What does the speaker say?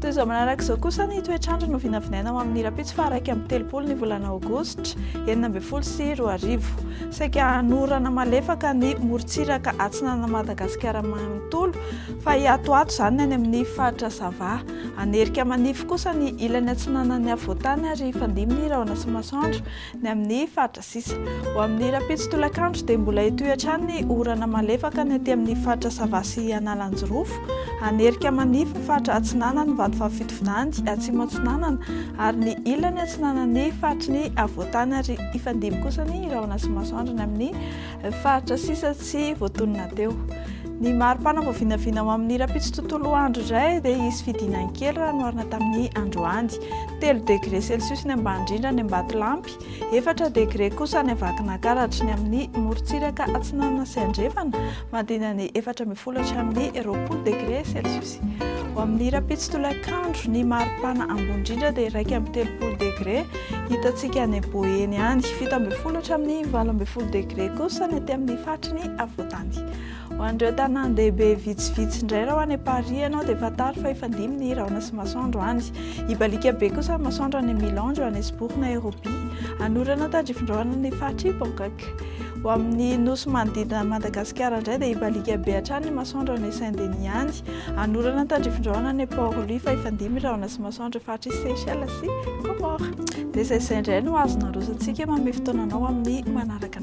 Toy izao manaraka izao kosa ny toetr'andro no vinavinaina ho amin'ny rahampitso faha iraika amby telopolo ny volana aogositra enina ambin'ny folo sy roa arivo. Saika hanorana malefaka ny morontsiraka atsinanan'i Madagasikara manontolo, fa hiatoato izany ny any amin'ny faritra Sava. Hanerika manify kosa ny ilany atsinanan'ny afovoantany ary hifandimby ny rahona sy masoandro ny amin'ny faritra. sisa Ho amin'ny rahampitso tolakandro dia mbola hitohy hatrany ny orana malefaka ny aty amin'ny faritra Sava sy Analanjirofo. Hanerika manify ny faritra atsinanan'ny Vatovavy-Fitovinany atsimo atsinanana ary ny ilany atsinanan'ny faritry ny havoantany ary hifandimby kosa ny rahona sy masoandro any amin'ny faritra sisa tsy voatonona teo. Ny mari-pana vao vinavina ho amin'ny rahampitso tontolo andro iray dia hisy fidinany kely raha noharina tamin'ny androany. Telo degre celsius ny ambany indrindra any Ambatolampy, Efatra degre kosa ny Vakinankaratra, ny amin'ny morontsiraka atsinanana sy andrefana, mandina ny efatra ambin'ny folo hatramin'ny roapolo degre celsius. Ho amin'ny rahampitso tolakandro, ny maripana ambony indrindra dia iraika amby telopolo degre, hitantsika any Boeny any. Fito ambin'ny folo hatramin'ny valo ambin'ny folo degre kosa ny aty amin'ny faritry ny afovoantany. Ho an'ireo tanàn-dehibe vitsivitsy indray raha ho any Paris ianao dia fantaro fa efa dimy ny rahona sy masoandro any. Hibaliaka be kosa ny masoandro any Milan, Johannesburg, Nairobi. Hanorana tandrifindrahona ny faritr'i Bangkok. Ho amin'ny nosy manodidina an'i Madagasikara indray dia hibaliaka be hatrany ny masoandro any Saint Denis any. Hanorana tandrifindrahona any Port Louis fa efa dimy rahona sy masoandro eo faritr'i Seychelles sy Comores. Dia izay izay indray no azon'ny arosontsika. Manome fotoana anao amin'ny manaraka.